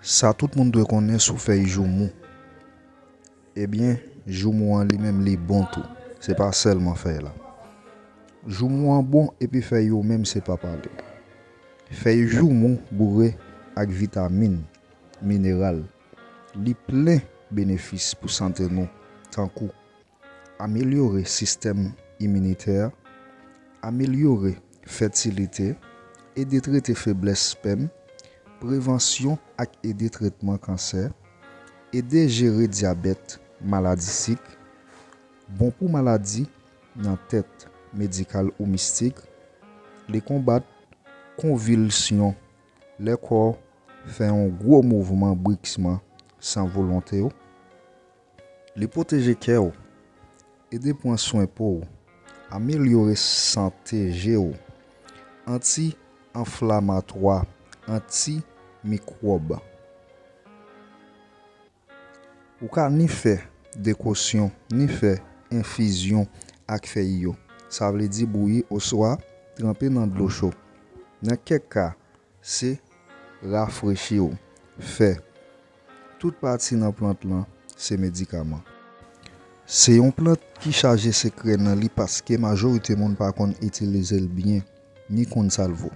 Sa tout moun dwe konnen sou fèy joumou. Ebyen, joumou an li menm li bon tou. Se pa sèlman fèy la. Joumou an bon epi fèy yo menm se pa pale. Fèy joumou boure ak vitamin, mineral. Li plen benefis pou sante nou tankou. Amelyore sistèm iminitè, amelyore fètilite, ede trete feblès spèm, prevansyon ak ede tretman kansè, ede jere dyabèt, maladi sik, bon pou maladi nan tèt medikal ou mistik, li konbat konvilsyon lè kò fè yon gwo mouvman briksman san volonte w. Li pwoteje kè ou. Ede pran swen po ou. Amelyore sante je ou. Anti anflamatwa, anti mikwòb. Ou ka ni fè dekosyon ni fè enfizyon ak fèy yo, sa vle di bouyi oswa tranpe nan dlo cho. Nan kèk ka, se rafrechi ou. Fè. Tout pati nan plant lan se medikaman. Se yon plant ki chaje sekrè nan li paske majorite moun pa konn itilize l byen, ni konn sa l vo.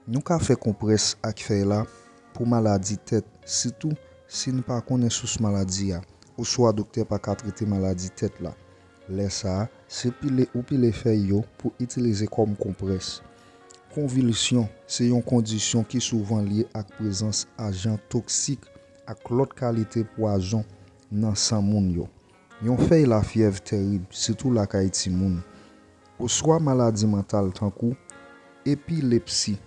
Nou ka fè konprès ak fèy la pou maladi tèt sitou si n pa konnen sous maladi a oswa doktè pa ka trete maladi tèt la. Lè sa, se pile ou pile fèy yo pou itilize kòm konprès. Konvilsyon se yon kondisyon ki souvan lye ak prezans ajan toksik ak lòt kalite pwazon nan san moun yo. Yon fèy lafyèv terib, sitou lakay timoun, oswa maladi mantal tankou epilepsi.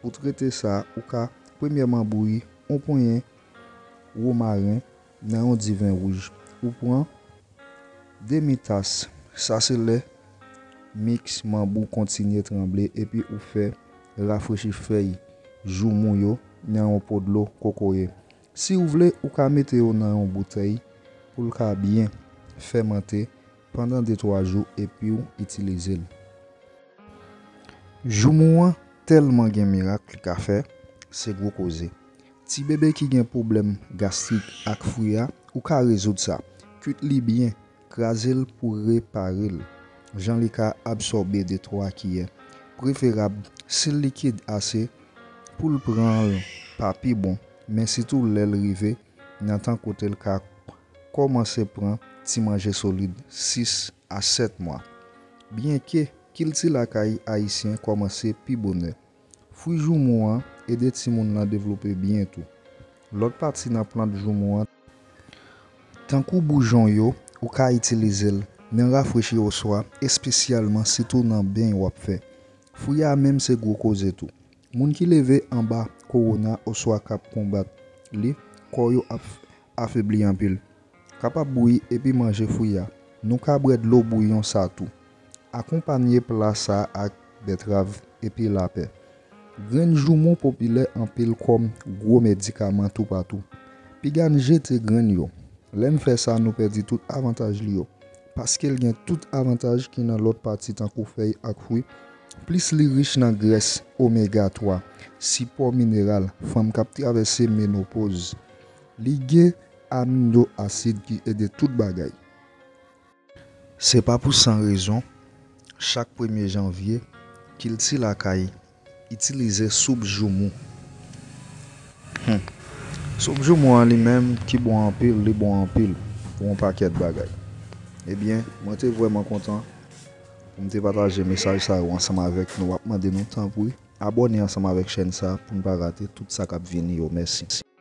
Pou trete sa, ou ka premyèman bouyi yon ponyen womaren Nan yon di vin wouj, ou pran demi tas. Sa se lè miks manb ou kontinye tranble epi ou fè rafrechi fèy joumou yo nan yon po dlo kokoye. Si ou vle, ou ka mete yo nan yon boutèy pou l ka byen fèmante pandan de twa jou epi w itilize l. Joumou an tèlman gen mirak li ka fè, se gwo koze. Ti bebe ki gen pwoblèm gastrik ak fwi a, ou ka rezoud sa. Kuit li byen, kraze l pou repare l jan li ka absòbe de 3 kiyè. Preferab si l likid ase pou l pran l pa pi bon, men sitou lè l rive nan tan kote l ka kòmanse pran ti manje solid 6 a 7 mwa. Byenke kilti lakay ayisyen kòmanse pi bonè, Fwi joumou an ede timoun lan devlope byen tou. Lòt pati nan plant joumou an, tankou boujon yo, ou ka itilize l nan rafrechi oswa espesyalman sitou nan beny w ap fè. Fwi a menm se gwo koze tou. Moun ki leve anba kowona oswa k ap konbat li, kò yo ap afebli anpil. Kapab bouyi epi manje fwi a. Nou ka bwè dlo bouyon sa tou. Akonpanye pla sa ak bètrav epi lapè. Grenn joumou popilè anpil kòm gwo medikaman toupatou. Piga n jete grenn yo. Lè n fè sa nou pèdi tout avantaj li yo. Paske l gen tout avantaj ki nan lòt pati tankou fèy ak fwi, plis li rich nan grès omega 3, sipò mineral, fanm k ap travèse menopoz. Li gen. Amino asid ki ede tout bagay. Se pa pou san rezon, chak premye janvye, kilti lakay itilize soup joumou. Hum! Soup joumou an li menm ki bon anpil, li bon anpil pou yon pakèt bagay. Ebyen, mwen te vrèman kontan pou m te pataje mesaj sa yo ansanm avèk nou. M ap mande nou tanpri abòne ansanm avèk chèn sa pou n pa rate tout sa k ap vini yo. Mèsi!